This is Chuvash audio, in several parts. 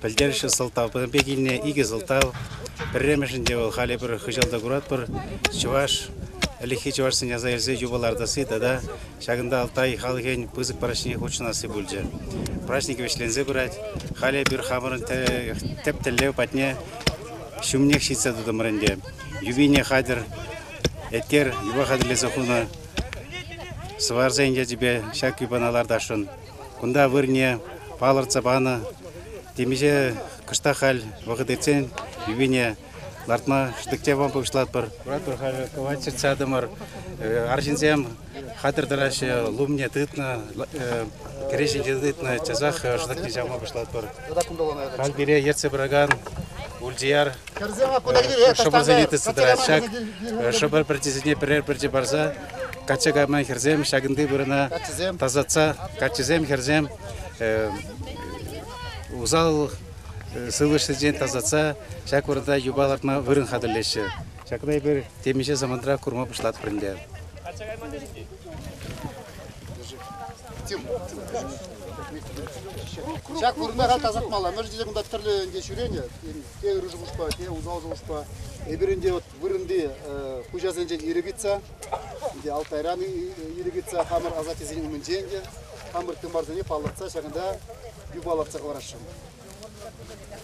пӗлтерӗшлӗ сӑлтав. Пӗтӗм пек илнӗ икӗ сӑлтав. Пӗрремӗшӗн те вӑл халӗ пӗр хыҫал та куратпӑр. Чӑваш ӗлӗкхи чӑвашсен аса илсе юпа лартасси тата ҫакӑнта Алтай халӑхӗн пысӑк праҫнине хутшӑнасси пулчӗ. Праҫник вӗҫленсе пырать. Халӗ эпир хамӑрӑн тӗп тӗллев патне ҫумнех ҫитсе тӑтӑмӑр ӗнтӗ. Юпине хатӗр, Эткер юпа хатӗрлесе хунӑ сӑварсен ячӗпе ҫак юпана лартасшӑн. Кунта вырӑнне палӑртса панӑ темиҫе кӑштах халь вӑхӑт иртсен юпине лартма шӗтӗкпе пуҫлатпӑр. Куратпӑр халь кӑвайт чӑтсатӑмӑр. Арҫынсем хатӗр тӑраҫҫӗ, лумне тытнӑ, кӗреҫе ҫинче тытнӑ, часах шӑтӑкне чавма пуҫлатпӑр. Халь пире ертсе пыракан Ульдияр шӑпӑрсене тытса тӑрать ҫак шӑпӑр пӗрчисене пӗрер пӗрчи парса Качча кайма хӗрсем ҫакӑнти вырӑна тасатса каччӑсем хӗрсем усал сывлӑшсенчен тасатса ҫак вырӑнта юпа лартма вырӑн хатӗрлеҫҫӗ. Ҫакна эпир темиҫе самантра курма пуҫлатпӑр ӗнтӗ. Ҫак вырӑна халь тасатмалла. Мӗш тесе кунта тӗрлӗ ӗнтӗ ҫӳренӗ. Те ырӑ шухӑшпа, те усал шухӑшпа. Эпир ӗнтӗ вот вырӑнти хуҫасенчен ирӗк ыйтса, ӗнтӗ Алтайран ирӗк ыйтса хамӑр асаттесен умӗнче ӗнтӗ хамӑр тымарсене палӑртса ҫакӑнта юпа лартса хӑварасшӑн.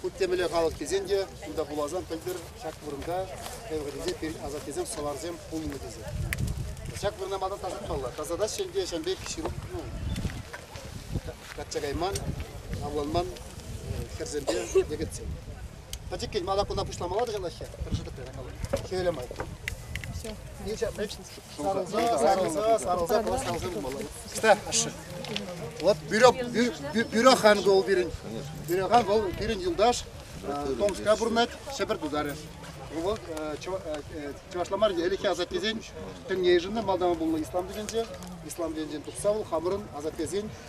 Хуть темелле халӑх тесен те кунта пуласан пӗлтӗр ҫак вырӑнта хӗвхӗтӗнче пирӗн асаттесем сӑларсем пулнӑ тесе. Ҫак вырӑна малтан тасатмалла. Тасатаҫҫӗ ӗнтӗ ҫавӑн пек ҫын ну, качча кайман, авланман хӗрсемпе йӗкӗтсем. Пӗчӗккӗн мала куна пуҫламалла тӑчаллаҫҫӗ. Тӑрӑшатӑп я такого. Хӗле май. Все. Ничего, сарӑлса, сарӑлса, сарӑлса калассалсем малай. Кстати, ашшı. Вот бюрок, бюрохан ол пирӗн. Бюрохан ол пирӗн юлдаш. Томска пурнать, Ҫӗпӗр тутарӗ. Вӑл чӑвашламар елӗхе азат тесен тӗннейшӗнне малтан пулнӑ ислам тӗнчинче. Ислам тӗнчин тухса вӑл хамӑрӑн азат тесен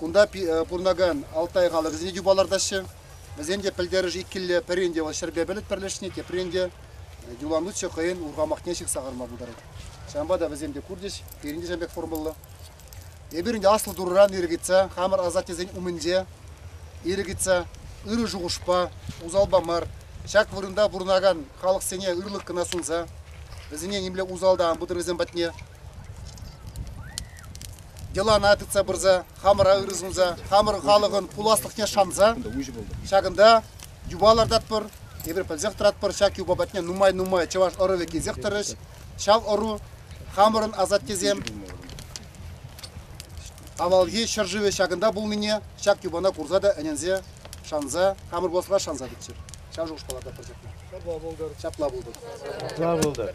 Кунта пурӑнакан Алтай халӑхӗсене юпа лартаҫҫӗ. Вӗсем те пӗлтерӗш иккӗлле, пӗрин те вӑл ҫӗрпе пӗлӗт пӗрлешни, теприн те юланутҫӑ хӑйӗн урхамахне ҫыхса хӑрма пултарать. Ҫавӑнпа та вӗсем те курчӗҫ, пирӗн те ҫав пек формӑллӑ. Эпир Аслӑ Турран ирӗк ыйтса, хамӑр асаттесен умӗнче ирӗк ыйтса, ырӑ шухӑшпа, усалпа мар, ҫак вырӑнта пурӑнакан халӑхсене ырлӑх кӑна сунса, вӗсене нимле усал та ан пытӑр вӗсем патне. йӑлана тытса пырса, хамӑра ырӑ сунса, хамӑр халӑхӑн пуласлӑхне шанса, ҫакӑнта юпа лартатпӑр, эпир пӗлсех тӑратпӑр, ҫак юпа патне нумай-нумай чӑваш ӑрӑвӗ килсех тӑрӗҫ. Ҫав ӑру хамӑрӑн асаттесем авалхи ҫӗршывӗ ҫакӑнта пулнине ҫак юпана курса та ӗненсе, шанса, хамӑр пуласлӑха шанса тӑччӑр. Ҫав шухӑш палӑртатпӑр ҫакна. Ҫапла пултӑр. Ҫапла пултӑр.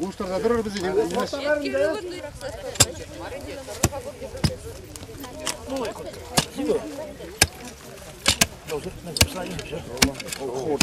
Улӑштарса тӑрӑр вӗсене. Хурт.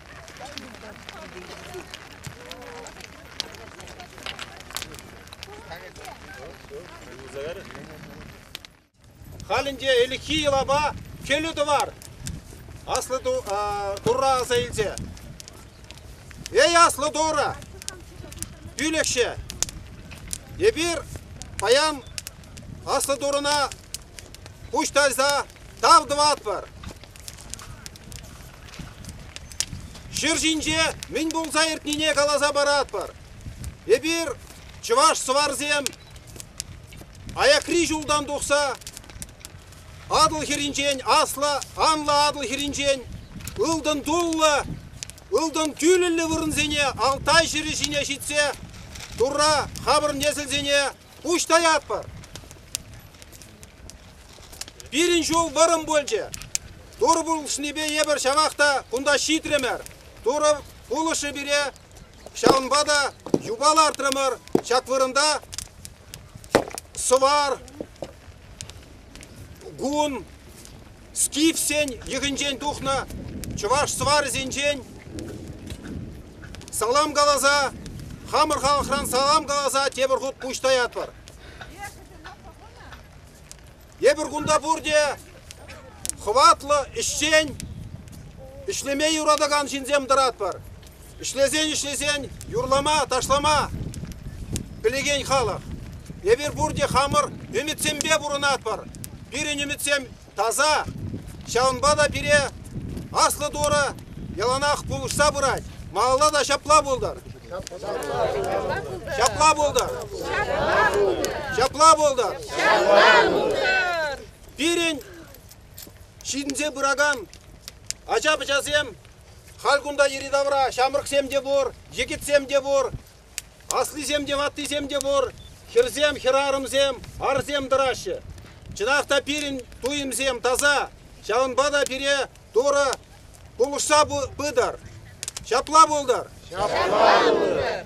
Халӗнче ӗлӗкхи йӑлапа хӗлӳ тӑвар. Аслӑ ту, а, Турра аса илсе. Эй, Аслӑ Тура! Пӳлӗхҫӗ! Эпир паян Аслӑ Турӑна Пуҫтарса тав тӑватпӑр. Ҫыр ҫинче мӗн пулса иртнине каласа паратпӑр. Эпир, чӑваш сӑварсем, аякри ҫултан тухса Атӑл хӗрринчен, аслӑ, анлӑ Атӑл хӗрринчен ылтӑн туллӑ, ылтӑн тӳлӗллӗ вырӑнсене Алтай ҫӗрӗ ҫине ҫитсе Турра хапӑр несӗлсене Пуҫ таятпӑр! Пирӗн ҫул вӑрӑм пулчӗ. Турпулӑшнипе эпир ҫавах та кунта ҫитрӗмӗр. Турӑ пулӑшрӗ пире. Ҫавӑнпа та юпа лартрӑмӑр. Ҫак вырӑнта сӑвар, гун, Скифсен йӑхӗнчен тухнӑ чӑваш сӑварӗсенчен салам каласа, хамӑр халӑхран салам каласа тепӗр хут пуҫ таятпӑр. Эпир кунта пурте хӑватлӑ, ӗҫчен, ӗҫлеме юратакан ҫынсем тӑратпӑр. Ӗҫлесен-ӗҫлесен юрлама, ташлама пӗлекен халӑх. Эпир пурте хамӑр ӗмӗтсемпе пурӑнатпӑр. Пирӗн ӗмӗтсем таса, ҫавӑнпа та пире Аслӑ Турӑ яланах пулӑшса пырать. Малалла та ҫапла пултӑр. Ҫапла пултӑр. Ҫапла пултӑр. Пирӗн ҫитӗнсе пыракан ача-пӑчасем Халь кунта йӗри-тавра ҫамрӑксем те пур, йӗкӗтсем те пур, аслисем те, ваттисем те пур. Хӗрсем, хӗрарӑмсем, арсем тӑраҫҫӗ. Чӑнах та пирӗн туйӑмсем таса, ҫавӑнпа та пире Турӑ пулӑшса пытӑр. Ҫапла пултӑр. Ҫапла пултӑр.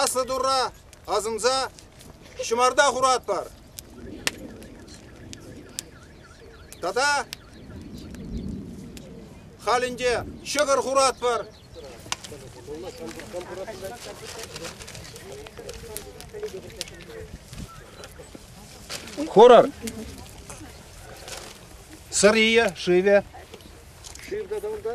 Аслӑ тура асӑнса ҫӑмарта хуратпӑр. Тата халӗнче ҫӑкӑр хуратпӑр. Хорор. Сырие, шыве. Шыв тата унта?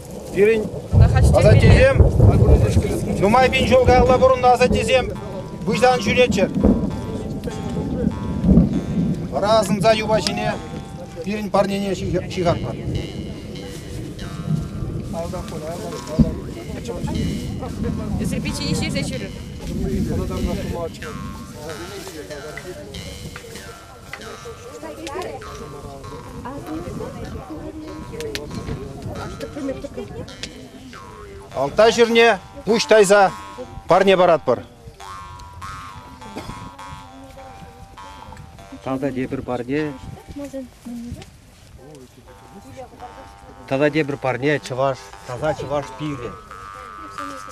Пирӗн асаттесем, нумай пин ҫул каялла пурӑннӑ асаттесем выҫан ҫӳретчӗр. Вара асӑнса юпа ҫине пирӗн парнене ҫыхатпӑр. Эсир пиче ӗҫесе ҫӳрӗр. Алтай ҫырне пуҫ тайса парне паратпӑр. Тата тепӗр парне Тата тепӗр парне чӑваш, таса чӑваш пирӗ.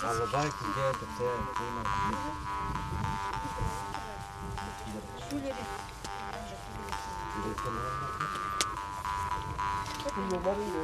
Алӑпа килте кӗтсе пынӑ. Юлмарин de.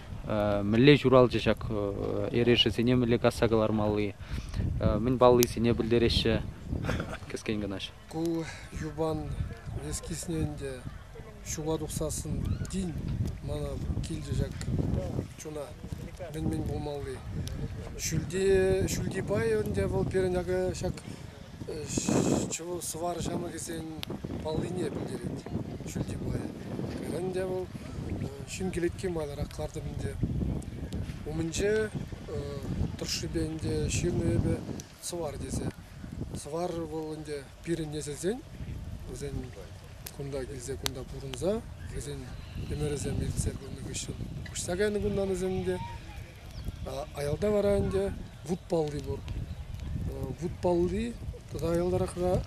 Мӗнле ҫуралчӗ ҫак эрешӗсене мӗнле касса кӑлармалли, мӗн паллисене пӗлтереҫҫӗ кӗскен кӑнаҫ. Ку юпан вескисне ӗнтӗ ҫула тухсассӑн тин мана килчӗ ҫак чуна мӗн-мӗн пулмалли. Ҫӳлти, ҫӳлти пайӗ ӗнтӗ вӑл пирӗн ҫак чул сӑвар ҫамрӑкӗсен паллине пӗлтерет ҫӳлти пайӗ. Кайран ӗнтӗ вӑл ҫын кӗлетки майларах картӑм ӗнтӗ. Умӗнче тӑршшӗпе ӗнтӗ ҫырнӑ эпӗ сӑвар тесе. Сӑвар вӑл ӗнтӗ пирӗн несӗлсен, вӗсен кунта килсе кунта пурӑнса вӗсен ӗмӗрӗсем иртсе пынӑ хыҫҫӑн. Куҫса кайнӑ кунтан вӗсем ӗнтӗ Аялта вара ӗнтӗ вут палли пур. Вут палли тата аялтарахра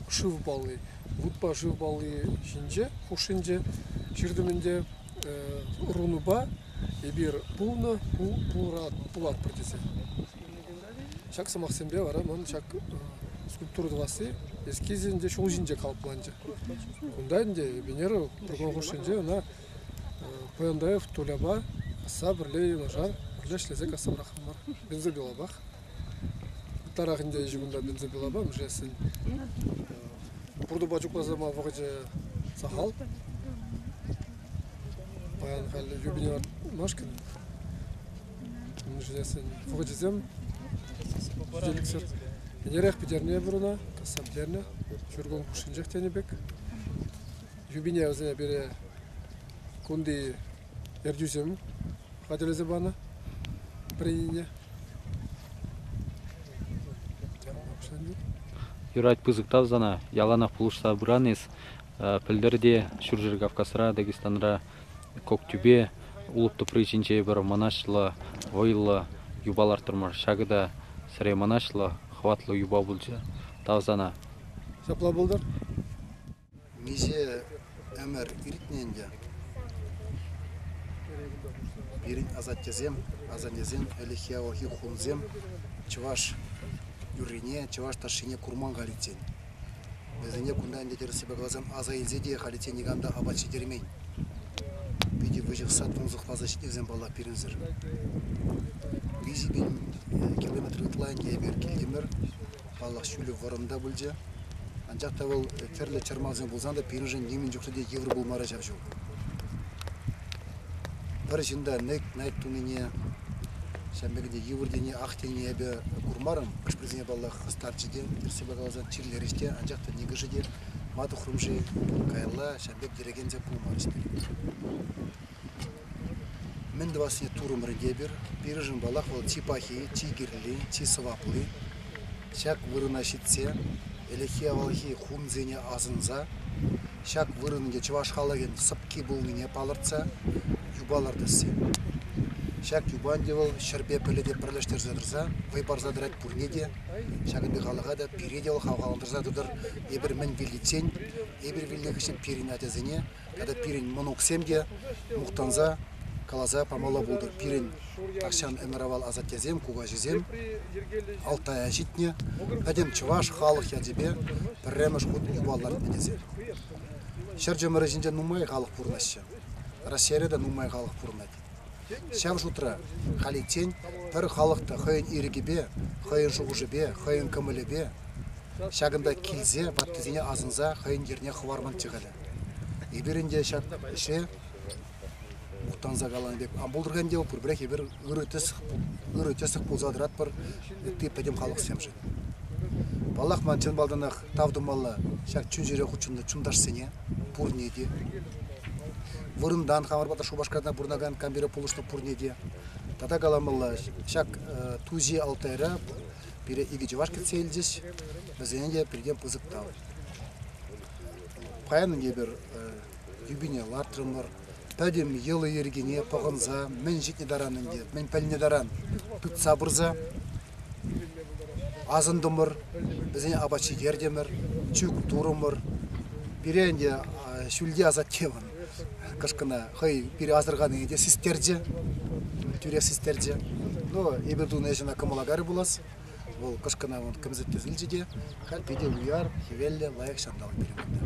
шыв палли. Вутпа шыв палли ҫинче, хушшинче ҫыртӑмӗнче ӑрунӑпа эпир пулнӑ, пулатпӑр тесе. Ҫак сӑмахсемпе вара ман ҫак скульптура тӑвасси эскиз ӗнтӗ ҫул ҫинче калӑпланчӗ. Кунта ӗнтӗ Венера куркам хушшинче ӑна Пуянта эв Туляпа касса пӗрле юнашар пӗрле ӗҫлесе касса пӑрахрӑмӑр бензопилапах. Ытларах ӗнтӗ ӗҫ кунта бензопилапа мӗшессӗн. Пуртӑпа чукласа мал вӑхӑчӗ сахал. Паян халь юбиляр машкӑн. Мӗшессӗн вӑхӑчӗсем ҫителӗксӗр. Ӗнерех пӗтернӗ эпир ӑна, касса пӗтернӗ. Ҫуркун хушшинчех тенӗ пек. Юпине вӗсене пире кунти ертӳҫӗм хатӗрлесе панӑ пренине. Юрать пысӑк тав сана. Яланах пулӑшса пыран эс. Пӗлтӗр те Ҫурҫӗр Кавказра, Дагестанра кок тӳпе, улӑп тӑпри ҫинче пӗр мӑнаҫлӑ, вӑйлӑ юпа лартрӑмӑр. Ҫакӑ та сире мӑнаҫлӑ, хӑватлӑ юпа пулчӗ. Тав сана. Ҫапла пултӑр. Миҫе ӗмӗр иртнӗ ӗнтӗ пирӗн асаттесем, асаннесем, ӗлӗкхи авалхи хунсем чӑваш юррине, чӑваш ташшине курман халиччен. Вӗсене кунта ӗнтӗ тӗрӗссипе каласан аса илсе те халиччен никам та апат ҫитермен. Питӗ выҫӑхса, тунсӑхласа ҫитнисем паллах пирӗнсӗр. Виҫӗ пин километр ытла ӗнтӗ эпир килтӗмӗр. паллах, ҫулӗ вӑрӑм та пулчӗ. Анчах та вӑл тӗрлӗ чӑрмавсем пулсан та пирӗншӗн нимӗн чухлӗ те йывӑр пулмарӗ ҫав ҫул. Пӗр ҫын та найк тунине, ҫавӑн пек те йывӑр тени, ах тени эпӗ курмарӑм. Хӑш-пӗрисене паллах хӑстарчӗ те, тӗрӗссипе каласан чирлерӗҫ те, анчах та нихӑшӗ те ма тухрӑм-ши каялла, ҫавӑн пек йӗрекенсем пулмарӗҫ пирӗн. Мӗн тӑвасси турӑмӑр эпир. Пирӗншӗн паллах вӑл чи пахи, чи кирли, чи сӑвапли. Ҫак вырӑна ҫитсе ӗлӗкхи-авалхи хунсене асӑнса ҫак вырӑн чӑваш халӑхӗн сӑпки пулнине палӑртса юпа лартасси. Ҫак юпа ӗнтӗ вӑл ҫӗрпе пӗлӗте пӗрлештерсе тӑрса вӑй парса тӑрать пурне те. Ҫакӑн пек халӑха та пире те вӑл хавхалантарса тӑтӑр. Эпир мӗн виличчен, эпир вилнӗ хыҫҫӑн пирӗн ачасене тата пирӗн мӑнуксем те мухтанса каласа памалла пултӑр. Пирӗн тахҫан ӗмӗравал асаттесем, кукаҫисем Алтая ҫитнӗ. Пӗтӗм чӑваш халӑх ячӗпе пӗрремӗш хут юпал лартнӑ тесе. Ҫӗр чӑмӑрӗ ҫинче нумай халӑх пурӑнаҫҫӗ. Раҫҫейре те нумай халӑх пурӑнать. Ҫав шутра халиччен пӗр халӑх та хӑйӗн ирӗкӗпе, хӑйӗн шухӑшӗпе, хӑйӗн кӑмӑлӗпе ҫакӑнта килсе ваттисене асӑнса хӑйӗн йӗрне хӑварманччӗ халӗ. Эпир ӗнтӗ ҫак ӗҫре мухтанса каланӑ пек ан пултӑр ӗнтӗ, пурпӗрех эпир ырӑ тӗслӗх, ырӑ тӗслӗх пулса тӑратпӑр ытти пӗтӗм халӑхсемшӗн. Паллах, ман чӑн малтанах тав тумалла ҫак чун-чӗре хутшӑннӑ чунташсене, пурне те. Вырӑнтан хамӑрпа та Шупашкарта пурӑнакан Камбера пулӑшнӑ пурне те. Тата каламалла, ҫак Тузи Алтайра пире икӗ чӑваш кӗтсе илчӗҫ. Вӗсене те пирки пысӑк тав. Паян эпир тӳпене лартрӑмӑр. Пӗтӗм йӑли-йӗркине пӑхӑнса мӗн ҫитнӗ таран ӗнтӗ, мӗн пӗлнӗ таран тытса пырса асӑнтӑмӑр, вӗсен апат ҫитертӗмӗр, чӳк турӑмӑр. Пире ӗнтӗ ҫӳлти асаттевӑн кӑшкӑна хӑй пире асӑрханине те систерчӗ, тӳрех систерчӗ. Ну, эпир тунӑ ӗҫ ӑна кӑмӑла карӗ пулас. Вӑл кӑшкӑна кӗмсӗрттерсе илчӗ те халь питӗ уяр, хӗвеллӗ, лайӑх ҫанталӑк перекетне.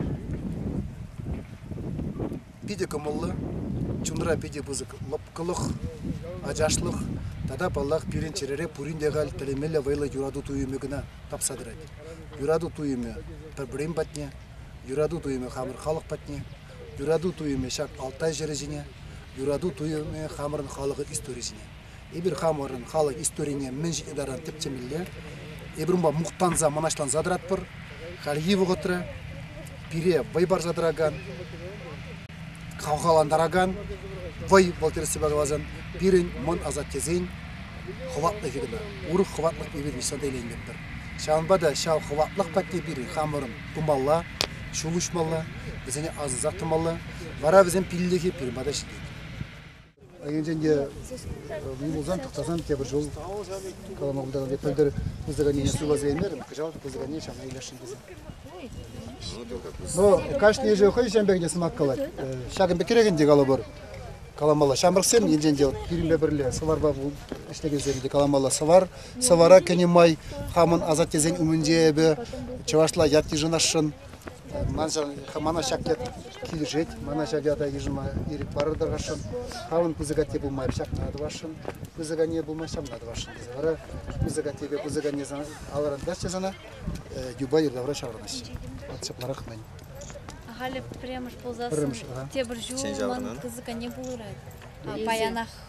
Питӗ кӑмӑллӑ, чунра питӗ пысӑк лӑпкӑлӑх, ачашлӑх тата, паллах, пирӗн чӗрере пурин те халь тӗлӗнмелле вӑйлӑ юрату туйӑмӗ кӑна тапса тӑрать. Юрату туйӑмӗ пӗр-пӗрин патне, юрату туйӑмӗ хамӑр халӑх патне, юрату туйӑмӗ ҫак Алтай ҫӗрӗ ҫине, юрату туйӑмӗ хамӑрӑн халӑхӑн истори ҫине. Эпир хамӑрӑн халӑх историне мӗн ҫити таран тӗпчемелле. Эпир унпа мухтанса, мӑнаҫланса тӑратпӑр. Хальхи вӑхӑтра пире вӑй парса тӑракан, хавхалантаракан вӑй, вӑл тӗрӗссипе каласан, пирӗн мӑн асаттесен хӑватлӑхӗ кӑна. Урӑх хӑватлӑхне эпир ниҫта илейместпӗр. Ҫавӑнпа та ҫав хӑватлӑх патне пирӗн хамӑрӑн пымалла, ҫул уҫмалла, вӗсене асӑнсах тӑмалла. Вара вӗсен пиллӗхӗ пирӗн пата ҫитет. Енчен те вӑй пулсан, тӑхтасан тепӗр ҫул калама пултарнине пӗлтӗр пысӑканнине суйласа илмерӗм, кӑҫал пысӑканне ҫавна илесшӗн тесе. Ну, кашни ӗҫе хӑй ҫын пекне сӑмах калать. Ҫакӑн пек кирек ӗнтӗ калӑпӑр. Каламалла ҫамрӑксем енчен те пирӗнпе пӗрле сӑварпа ӗҫлекенсем те каламалла сӑвар. Сӑвара кӗнӗ май хамӑн асаттесен умӗнче эпӗ чӑвашла ят йышӑнасшӑн. Маншӑн, мана ҫак ят килӗшет, мана ҫак ята йышӑнма ирӗк парӑр тӑвасшӑн. Хамӑн пысӑк атте пулмарӗ, ҫакна тӑвасшӑн. Пысӑк анне пулма ҫавна тӑвасшӑн тесе. Вара пысӑк аттепе пысӑк анне сана алрантаҫҫӗ сана, Дюбай йыртавра ҫаврӑнаҫҫӗ. Вӑт ҫапларах мӗн. Халӗ пӗрремӗш пулсассӑн тепӗр ҫул ман пысӑк анне пуларать. Паянах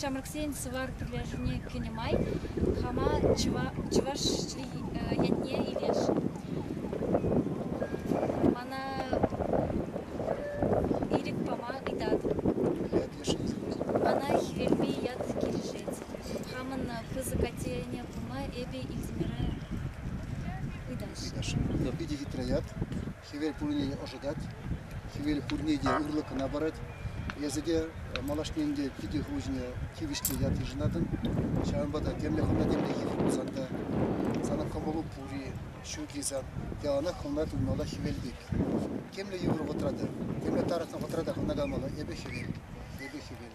ҫамрӑксен сӑвар тӗрлӗрне кӗнӗ май хама чӑваш ятне илес. Мана ирӗк пама ыйтатӑн. Мӗнле ят йышӑнсаң? Мана хӗвелпи ят килӗшет. Хамӑн пысӑк атене пулма эпӗ Измиры ыйтас. Ыйтас. Питӗ хитре ят. хӗвел пурине те ӑшӑтать, хӗвел пурине те ырлӑ кӑна парать. Эсӗ те малашне ӗнтӗ питӗ хывӑҫне тивӗҫлӗ ят йышӑнатӑн. Ҫавӑнпа та темле хӑвна темле йыш пулсан та сана кӑмӑлу пури, ҫути сан яланах хӑвна туймалла хӗвел пек. Темле йывӑр вӑтра та, темле тарӑхнӑ вӑтра та хӑвна калмалла эпӗ хӗвел, эпӗ хӗвел.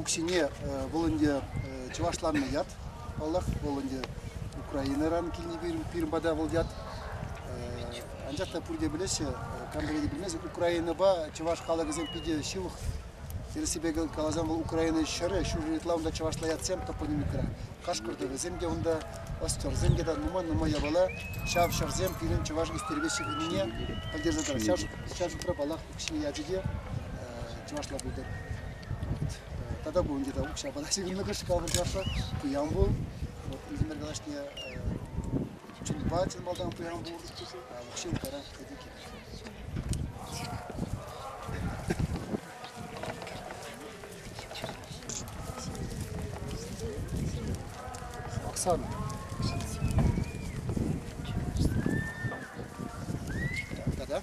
Укҫине вӑл ӗнтӗ чӑвашланнӑ ят, паллах. Вӑл ӗнтӗ Украинӑран килнӗ пирӗн пата вӑл ят. Анчах та пурте пӗлеҫҫӗ, кам пӗлет пӗлмест, Украинӑпа чӑваш халӑхӗсем питӗ ҫывӑх. Тӗрӗссипе каласан, вӑл Украинӑн ҫӗрӗ, ҫурҫӗр ытла унта чӑвашла ятсем топонимикӑра. Кашкӑртӑвӗсем те унта, ӑстӑрсем те нумай-нумай япала. Ҫав ҫӗрсем пирӗн чӑваш истерпе ҫыхӑннине пӗлтерсе тӑрать. Ҫав шутра, паллах, Укҫи ячӗ те. чӑвашла пӗлтер. Тата пулин те укҫа патаҫи килнӗ кӑшка вӑл чӑвашла, пуян пул. Вот Ильмир калаҫне чунпа тен малтан пуян пул. Укҫа укара эдик Оксана. Оксана. Да?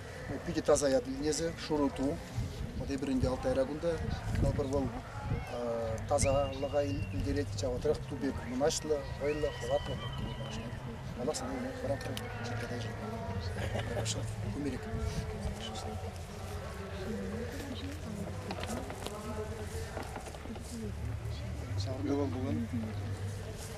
питӗ таса ятли эсӗ, шурӑ ту. Вот эпир ӗнтӗ Алтайра кунта. Ӑл пӗр вӑл тасалӑха пӗлтерет. Ҫавӑн тӑрӑх ту пек мӑнаҫлӑ, вӑйлӑ, хӑватлӑ вырнаҫнӑ. Малах сана вӗлен хӑратрӑм. Тата Хорошо, кумирек. Савнӑвал булан.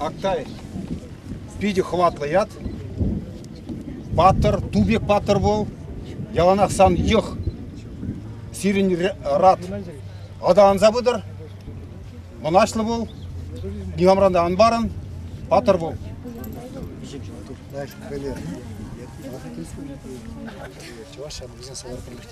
Актай питӗ хӑватлӑ ят. Паттӑр, ту пек паттӑр вӑл. Яланах сан йӑх сирӗн рат аталанса пытӑр. Мӑнаҫлӑ пул, никамран та ан парӑн, паттӑр пул. Чӑваш ҫамрӑксен сӑвар пӗрлӗхчӗ.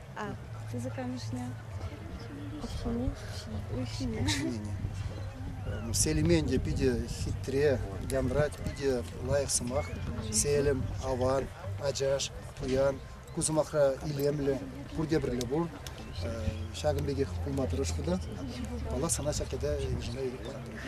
А пысӑканӑшне? Укҫине. Укҫине. Селимен те питӗ хитре, янрать, питӗ лайӑх сӑмах. Селӗм, аван, ачаш, пуян. Ку сӑмахра илемлӗ, пурте пӗрле пул. Ҫакӑн пекех пулма тӑрӑшнӑ та. Паллах, сана ҫак тата инженер ирӗк паратпӑр.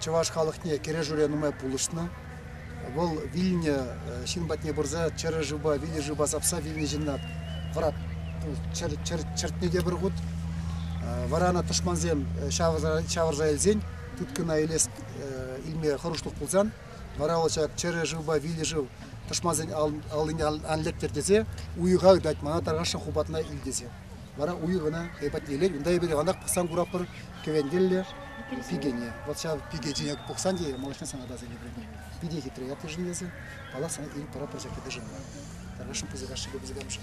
чӑваш халӑхне кӗрешӳре нумай пулӑшнӑ. Вӑл вилнӗ ҫын патне пырса чӗрӗ шывпа, вилӗ шывпа сапса вилнӗ ҫынна вӑрат чӗртнӗ те пӗр хут. Варана тӑшмансем ҫавӑрса илсен, тыткӑна илес илме хӑрушлӑх пулсан, вара вӑл ҫак чӗрӗ шывпа вилӗ шыв тӑшмансен аллине ан лектӗр тесе уйӑха ытать мана тархасшӑн ху патна ил тесе. Вара уйӑр кӑна хӑй патне илет. Унта эпир яланах пӑхсан куратпӑр кӗвентеллӗ пикене. Вот ҫав пике ҫине пухсан те малашне сана та сене вӗренме питӗ хитре ятлӑшӑн тесе. Паллах, сана ир пӑра пӗр ҫак тытӑшӑнма. Тархашшӑн пысӑкашшӗпе пысӑкамшӑн.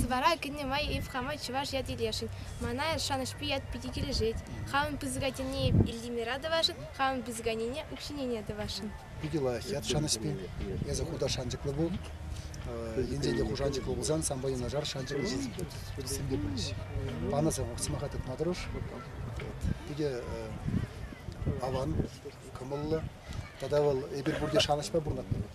Сӑвара кӗнӗ май хама чӑваш яти лешӗн, мана шанӑҫпа ят питӗ килӗшет. Хамӑн пысӑкатене Эльмира тӑвасшӑн, хамӑн пысӑканене Укҫине тӑвасшӑн. Питӗ лайӑх ят шанӑҫпе. Эсӗ хулта шанчӑклӑ пул. Енчен те хушанчӑклӑ пулсан санпа юнашар шанчӑклӑ ҫынсемпе пулӗҫ. Панӑ сӑмаха тытма тӑрӑш. Питӗ аван, кӑмӑллӑ. Тата вӑл эпир пурте шанӑҫпа пурӑнатпӑр вӗт.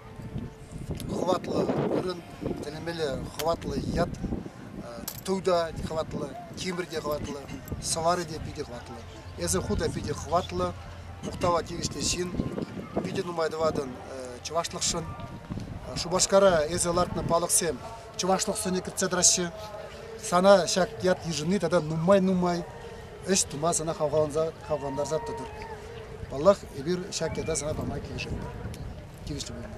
хӑватлӑ вырӑн, тӗлӗнмелле хӑватлӑ ят. Ту та хӑватлӑ, тимӗр те хӑватлӑ, сӑварӗ те питӗ хӑватлӑ. Эсӗ ху та питӗ хӑватлӑ, мухтава тивӗҫлӗ ҫын. Питӗ нумай тӑватӑн чӑвашлӑхшӑн. Шупашкара эсӗ лартнӑ палӑксем чӑвашлӑх сӑнӗ кӗртсе тӑраҫҫӗ. Сана ҫак ят йышӑнни тата нумай-нумай ӗҫ тума сана хавхалантарса тӑтӑр. Паллах, эпир ҫак ята сана пама килӗшетпӗр. Тивӗҫлӗ пулма.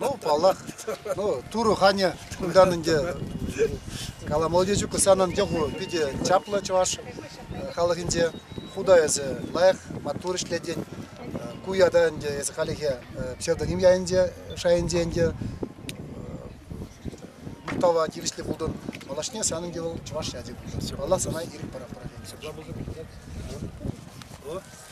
Ну, паллах, ну, Турӑ ханӗ унтан ӗнтӗ каламолдечук санӑн йӑху питӗ чаплӑ чӑваш халӑхӗнче. Худа эсӗ лайӑх, маттур ӗҫлетӗн. Ку ята ӗнтӗ эсӗ халӗхе псевдоним айӗнче, шайӗнче ӗнтӗ мухтава тивӗҫлӗ пултӑн. Малашне санӑн те вӑл чӑваш ячӗ пултӑр. Паллах, сана ирӗк пӑрах пӑрах.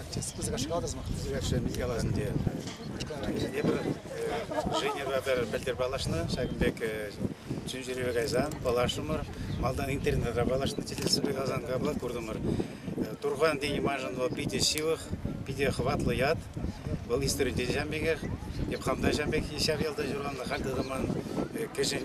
Отец пысӑкашкалатӑр сма? Пысӑкашсем яласенче тепӗр Женьӑра пӗр пӗлтӗр паллашнӑ. Ҫакӑн пек чун-чӗреве кайсан паллашрӑмӑр. Малтан интернетра паллашнӑ, тетелсемпе каласан капла куртӑмӑр. Турхан тени маншӑн вӑл питӗ ҫылӑх, питӗ хӑватлӑ ят. Вӑл историнче те ҫав пекех, эп хам та ҫав пек ҫав ялта ҫуралнӑ, халь та та ман кӗҫӗн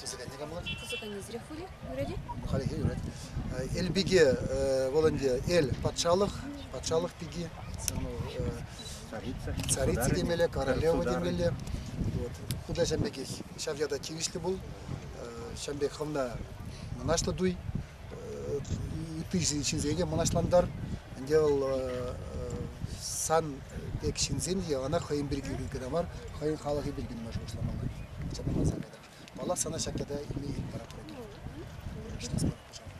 Пысӑк никам мар? Пысӑк аннесӗрех пулӗ. Юрать-и? Халӗ юрать. Элпике вӑл ӗнтӗ Эл патшалӑх, патшалӑх пики. Ну, царица. Царица темелле, королева темелле. Вот. Куда ҫан пекех ҫав ята тивӗҫлӗ пул. Ҫан пек хӑвна мӑнаҫлӑ туй. ҫынсене те мӑнаҫлантар. Ӗнтӗ вӑл сан пек ҫынсем те ӑна хӑйӗн пирки кӑна мар, хӑйӗн халӑхӗ пирки нумай шухӑшламалла. Чӑтламасан ята. Паллах, сана ҫак ята илме ирӗк парать вроде. Шутласпан, пожалуй.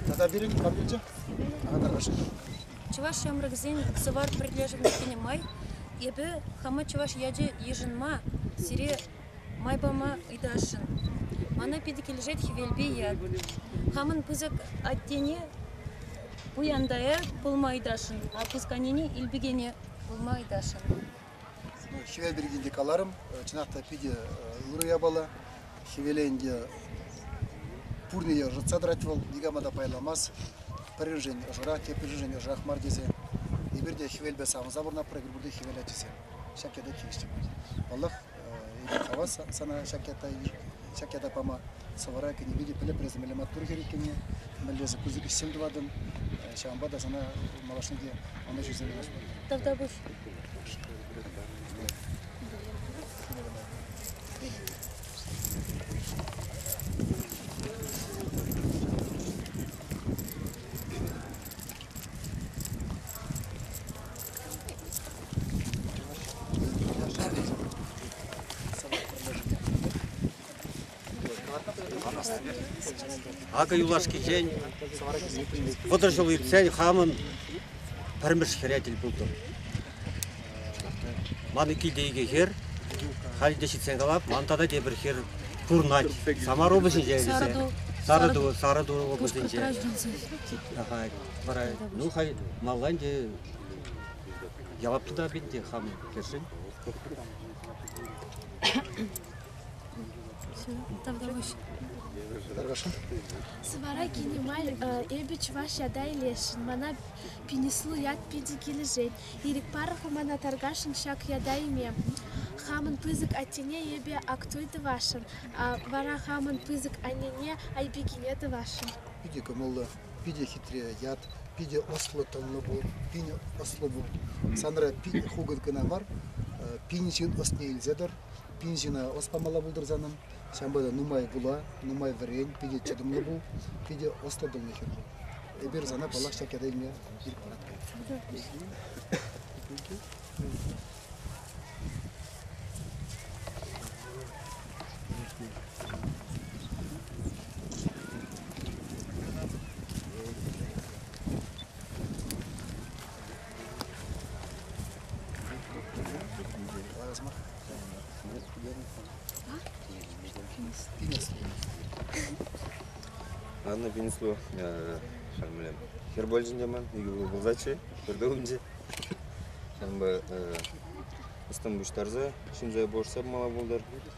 Тата пирӗн пар килчӗ. Тӑрӑш. Чӑваш ҫамрӑксен сӑвар пӗрлешӗвне кӗнӗ май эпӗ хама чӑваш ячӗ йышӑнма, сире май пама ыйтасшӑн. Мана питӗ килӗшет хӗвелпе ят. Хамӑн пысӑк аттене пуянтая пулма ыйтасшӑн, а пусканене илпикене пулма ыйтасшӑн. Хӗвел пирки ӗнтӗ каларӑм. Чӑнах та питӗ ырӑ япала. Хӗвеле ӗнтӗ пурне ӑшӑтса тӑрать вӑл, никама та пайламасть. Пӗриншӗн ӑшӑрах, теприншӗн ӑшӑрах мар тесе. Эпир те хӗвелпе савӑнса пурӑнатпӑр, эпир пурте хӗвел ачисем. Ҫак ята тивӗҫтермелле. Паллах, эпир хавас сана ҫак ята ҫак ята пама. сӑвӑра кӗнипе те пӗлӗпӗр эсӗ мӗнле маттур хӗр иккенне, мӗнле эсӗ пысӑкӗшсем тӑватӑн. Ҫавӑнпа та сана малашне те ӑнӑҫусем калаҫман. Тавтапуҫ. Сӑвӑ предложения. Акӑ юлашкинчен вӑтӑр ҫул иртсен хамӑн пӗрмӗш хӗре тӗл пултӑм. Манӑн килте икӗ хӗр, халь те ҫитсен калап, ман тата тепӗр хӗр пурӑнать. Самар облаҫӗнче вӗсем. Сарӑту, Сарӑту облаҫӗнче. Ахай, вара, ну хай, малла ӗнтӗ явап туда ӗнтӗ хам кӗрсен. Вара кинемай эпӗ чӑваш ята илесшӗн. Мана Пинеслу ят питӗ килӗшет. Ирӗк парӑхӗ мана таркашӑн ҫак ята име. Хамӑн пысӑк аттене эпӗ Актуй тӑвасшӑн, вара хамӑн пысӑк аннене Айпикене тӑвасшӑн. Питӗ кӑмӑллӑ, питӗ хитре ят, питӗ ӑслӑ, тӑнлӑ пул, пин ӑслӑ пул. Санра пин хукӑт кӑна мар, пин ҫын ӑсне илсе тӑр. пин ҫына ӑс памалла пултӑр санӑн. Ҫавӑнпа та нумай вула, нумай вӗрен, питӗ чӑтӑмлӑ пул, питӗ ӑслӑ хӗр пул. Эпир сана паллах ҫак ята илме ирӗк Анна Пенеслу, ҫамлем, хӗр пулчӗ икӗ пул пулсаччӗ, пӗр тӑвӑнчӗ. Ҫавӑнпа ӑстам пуҫтарса, ҫынса пӑхса мала пултар.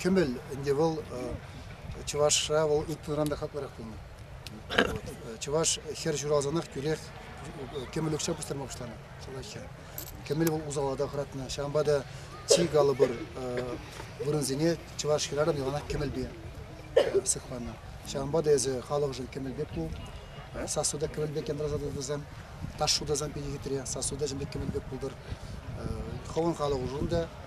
кӗмӗл ӗнтӗ вӑл чӑвашра вӑл ыттисенран та хаклӑрах пулнӑ. Чӑваш хӗр ҫуралсанах тӳрех кӗмӗл укҫа пуҫтарма пуҫланӑ шӑлах хӗр. Кӗмӗл вӑл усала та хӑратнӑ. Ҫавӑнпа та чи калӑпӑр вырӑнсене чӑваш хӗрарӑм яланах кӗмӗлпе сыхланӑ. Ҫавӑнпа та эсӗ халӑхшӑн кӗмӗл пек пул, сассу кӗмӗл пек янраса тытасам, ташшу тасам питӗ хитре, сассу пек кӗмӗл пек пултӑр. Хӑвӑн халӑхушӑн та,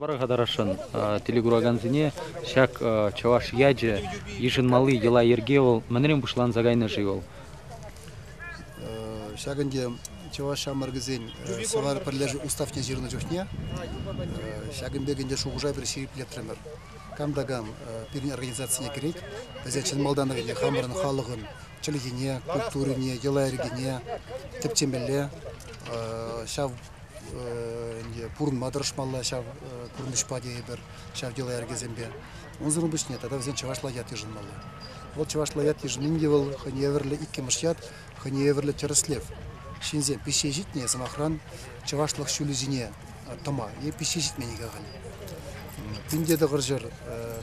Вӑраха тарасшӑн телекуракансене ҫак чӑваш ячӗ, йышӑнмалли йӑла-йӗрке вӑл мӗнрен пуҫланса кайнӑ-ши вӑл? Ҫак ӗнтӗ чӑваш ҫамрӑкӗсен Сӑвар пӗрлешӳ уставне ҫырнӑ чухне ҫакӑн пек ӗнтӗ шухӑша пӗр ҫирӗплетрӗмӗр. Кам такам пирӗн организацине кӗрет, вӗсем чӑн малтанлӑхӗнче хамӑрӑн халӑхӑн чӗлхине, культурине, йӑла-йӗркине тӗпчемелле, ҫав пурӑнма тӑрӑшмалла ҫав пурнӑҫпа тейӗпӗр, ҫав йӑла-йӗркесемпе. Унсӑрӑн пуҫне тата вӗсен чӑвашла ят йышӑнмалла. Вӑл чӑвашла ят йышӑнин те вӑл хӑйне евӗрлӗ иккӗмӗш ят, хӑйне евӗрлӗ тӗрӗслев ҫынсем пиҫсе ҫитнӗ, сӑмахран, чӑвашлӑх ҫулӗсене тӑма е пиҫсе ҫитмен иккен. Пинте тӑкӑрҫӑр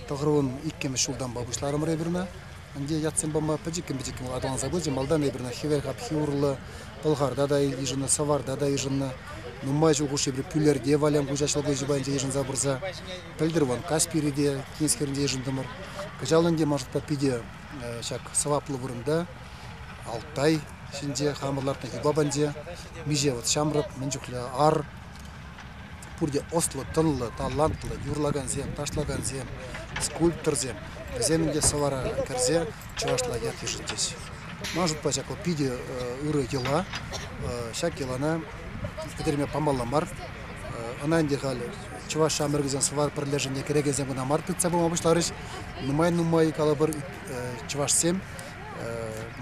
тӑхӑрвун иккӗмӗш ҫултанпа пуҫларӑмӑр эпир ӑна. Ӗнтӗ ятсемпе пӗчӗккӗн-пӗчӗккӗн аталанса пычӗ. Малтан эпир ӑна хӗвел хапхи урлӑ, пӑлхарта та йышӑннӑ, сӑварта та йышӑннӑ. Нумай ҫул хушши эпир Пӳлерте, Валям хуҫа ҫӑлкуҫӗ пайӗнче йышӑнса пырса пӗлтӗрвон Каспире те, Кинскерӗнче йышӑнтӑмӑр. Кӑҫал ӗнтӗ маршрутпа питӗ ҫак сӑваплӑ вырӑнта. Алтай ҫинче хамӑр лартнӑ упапанче миҫе вӑт ҫамрӑк, мӗн чухлӗ ар, пурте ӑслӑ, тӑнлӑ, талантлӑ юрлакансем, ташлакансем, скульпторсем. Вӗсем те сӑвара кӗрсе чӑвашла ят йышӑнчӗҫ. Ман шутпа ҫак вӑл питӗ ырӑ йӑла. Ҫак йӑлана пӗтерме памалла мар. Ӑна ӗнтӗ халь чӑваш ҫамрӑкӗсен сӑвар пӗрлешӗвне кӗрекенсем кӑна мар тытса пыма пуҫларӗҫ. Нумай-нумай, калӑпӑр, чӑвашсем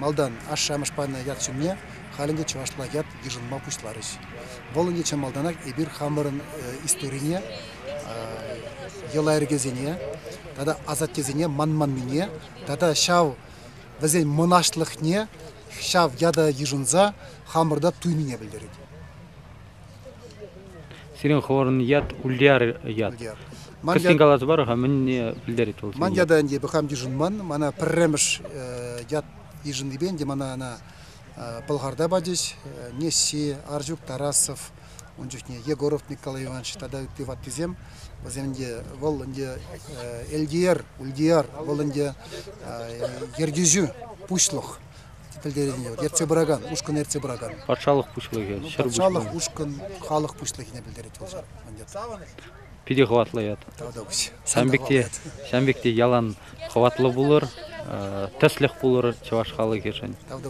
Малтан ашшӗ-амӑш панӑ ят ҫумне халь ӗнтӗ чӑвашла ят йышӑнма пуҫларӗҫ. Вӑл ӗнтӗ чӑн малтанах эпир хамӑрӑн историне, йӑла-йӗркесене тата асаттесене манманнине тата ҫав вӗсен мӑнаҫлӑхне ҫав ята йышӑнса хамӑрта туйнине пӗлтерет. Сирӗн хӑвӑрӑн ят Ульяр ят. Кӗскен каласа парӑр-ха, мӗнне пӗлтерет вӑл. Ман ята ӗнтӗ эпӗ хам йышӑнман. Мана пӗрремӗш ят йышӑннипе ӗнтӗ мана ӑна Пӑлхарта пачӗҫ. Несси, Арҫук, Тарасов, ун чухне Егоров Николай Иванович тата ытти ваттисем. Вӗсем ӗнтӗ, вӑл ӗнтӗ Элтияр, Ульдияр, вӑл ӗнтӗ ертӳҫӳ, пуҫлӑх. пӗлтерӗве ертсе пыракан, ушкӑн ертсе пыракан. Патшалӑх пуҫлӑхӗ, ҫӗр пуҫлӑхӗ. Патшалӑх, ушкӑн, халӑх пуҫлӑхӗне пӗлтерет вӑл ҫав ят. Питӗ хӑватлӑ ят. Тава Ҫавӑн пек те, ҫавӑн пек те ялан хӑватлӑ пулӑр, тӗслӗх пулӑр чӑваш халӑхӗшӗн. Тавда